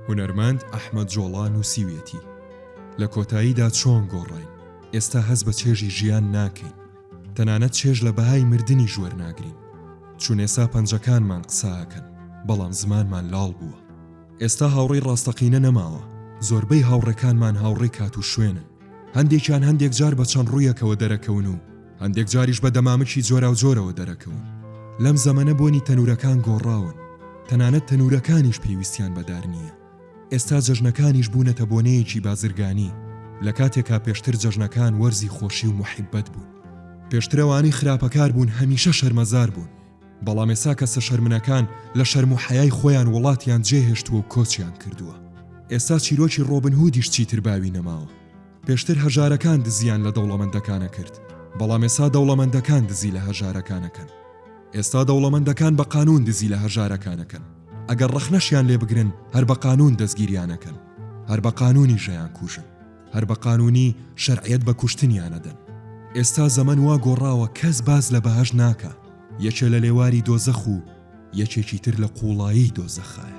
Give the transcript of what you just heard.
هونەرمەند ئەحمەد جۆڵا نووسیویەتی، لە کۆتاییدا چۆن گۆڕاین، ئێستا هەست بە چێژی ژیان ناکەین، تەنانەت چێژ لە بەهای مردنیش وەرناگرین، چون ئێستا پەنجەکانمان قسەئەکەن، بەڵام زمانمان لاڵ بووە. ئێستا هاوڕێی ڕاستەقینە نەماوە، زۆربەی هاوڕێکانمان هاوڕێی کات و شوێنن، هەندێکیان هەندێک جار بە چەند ڕوویەکەوە دەرەکەون و هەندێک جاریش بە دەمامکی جۆراوجۆرەوە دەرەکەون. لەم زەمەنە بۆنی تەنوورەکان گۆڕاون، تەنانەت تەنوورەکانیش پێویستیان بە دار نییە. ئێستا جەژنەکانیش بوونەتە بۆنەیەکی بازرگانی، لە کاتێکا پێشتر جەژنەکان وەرزی خۆشی و موحیببەت بوون. پێشتر ئەوانەی خراپەکار بوون هەمیشە شەرمەزار بوون. بەڵام ئێسا کەسە شەرمنەکان لە شەرم و حەیای خۆیان وڵاتیان جێهێشتووە و کۆچیان کردووە ئێستا چیرۆکی ڕۆبن هودیش چیتر باوی نەماوە پێشتر هەژارەکان دزیان لە دەوڵەمەندەکانە کرد بەڵام ئێسا دەوڵەمەندەکان دزی لە هەژارەکانەکەن ئێستا دەوڵەمەندەکان بە قانون دزی لە هەژارەکانەکەن ئەگەر ڕەخنەشیان لێ بگرن هەر بە قانون دەستگیریانەکەن هەر بە قانونی ژەیان کوژن هەر بە قانونی شەرعیەت بە کوشتنیان ئەدەن. ئێستا زەمەن وا گۆڕاوە کەس باس لە بەهەشت ناکا یەکێ لە لێواری دۆزەخ و یەکێکی تر لە قوڵایی دۆزەخایە.